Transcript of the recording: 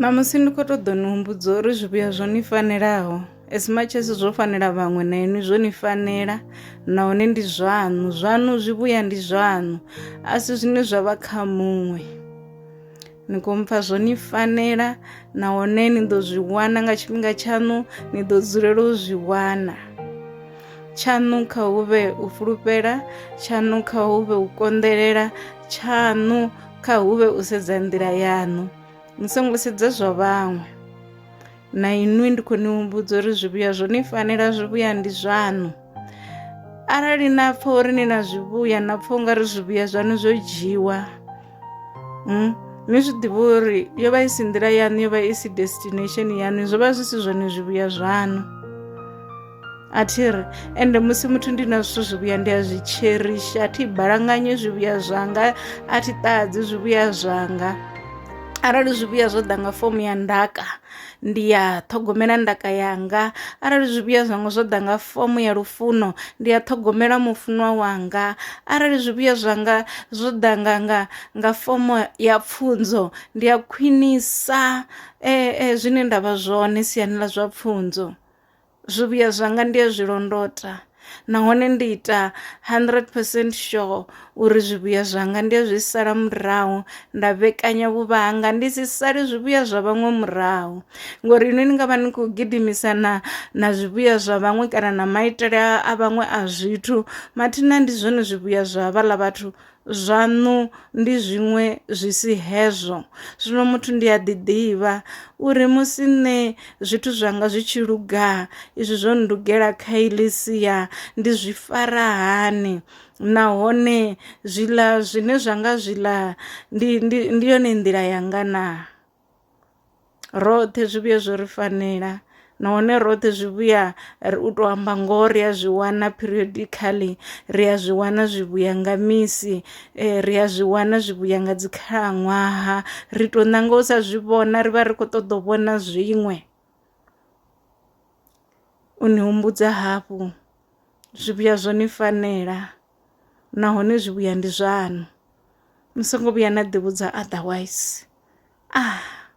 Ṋamusi ni kho ṱoḓa ni humbudza uri zwivhuya zwo ni fanelaho as much as zwo fanela vhaṅwe na inwi zwo ni fanela nahone ndi zwaṋu zwaṋu zwivhuya ndi zwaṋu a si zwine zwa vha kha muṅwe ni khou mpfa zwo ni fanela nahone ni ḓo zwi wana nga tshifhinga tshaṋu ni ḓo dzulela u zwi wana tshaṋu kha hu vhe u fulufhela tshaṋu kha hu vhe u konḓelela tshaṋu kha hu vhe u sedza nḓila yaṋu ni songo sedza zwa vhaṅwe na inwi ndi khou ni humbudza uri zwivhuya zwo ni fanela zwivhuya ndi zwaṋu arali na pfha uri ni na zwivhuya na pfha ungari zwivhuya zwaṋu zwo dzhiwa mm? ni zwi ḓivha uri yo vha i si nḓila yaṋu yo vha i si destination yaṋu zwo vha zwi si zwone zwivhuya zwaṋu a thi ri ende musi muthu ndi na zwithu zwivhuya ndi a zwi tsherishi a thi balanganye zwivhuya zwanga a thi ṱahadzi zwivhuya zwanga arali zwivhuya zwo ḓa nga fomo ya ndaka ndi ya ṱhogomela ndaka yanga arali zwivhuya zwanga zwo ḓa nga fomo ya lufuno ndi ya ṱhogomela mufunwa wanga arali zwivhuya zwanga zwo ḓa nga nga nga fomo ya pfunzo ndi a khwinisa eh, eh, zwine ndavha zwone siani ḽa zwa pfunzo Zwivhuya zwanga ndi a zwi londota nahone ndi ita hundred percent sure uri zwivhuya zwanga ndi a zwi sala murahu nda vhekanya vhuvha hanga ndi si sale zwivhuya zwa vhaṅwe murahu ngori inwi ni ngavha ni kho gidimisa na na zwivhuya zwa vhaṅwe kana na maitele a vhaṅwe a zwithu mathina ndi zwone zwivhuya zwa havhaḽa vhathu zwaṋu ndi zwiṅwe zwi si hezwo. Zwino muthu ndi a ḓiḓivha uri musi nṋe zwithu zwanga zwi tshi luga izwi zwo ndugela kha iḽi sia ndi zwi fara hani nahone zwiḽa zwine zwa nga zwiḽa ndi ndi ndi yone nḓila yanga naa. roṱhe zwivhuya zwo ri fanela nahone roṱhe zwivhuya u to amba ngoho ri a zwi wana periodically ri a zwi wana zwivhuya nga misi eh, ri a zwi wana zwivhuya nga dzi khalaṅwaha ri to nanga u sa zwi vhona ri vha ri kho ṱoḓa u vhona zwiṅwe u ni humbudza hafhu zwivhuya zwo ni fanela nahone zwivhuya ndi zwaṋu ni songo vhuya na ḓi vhudza otherwise ah.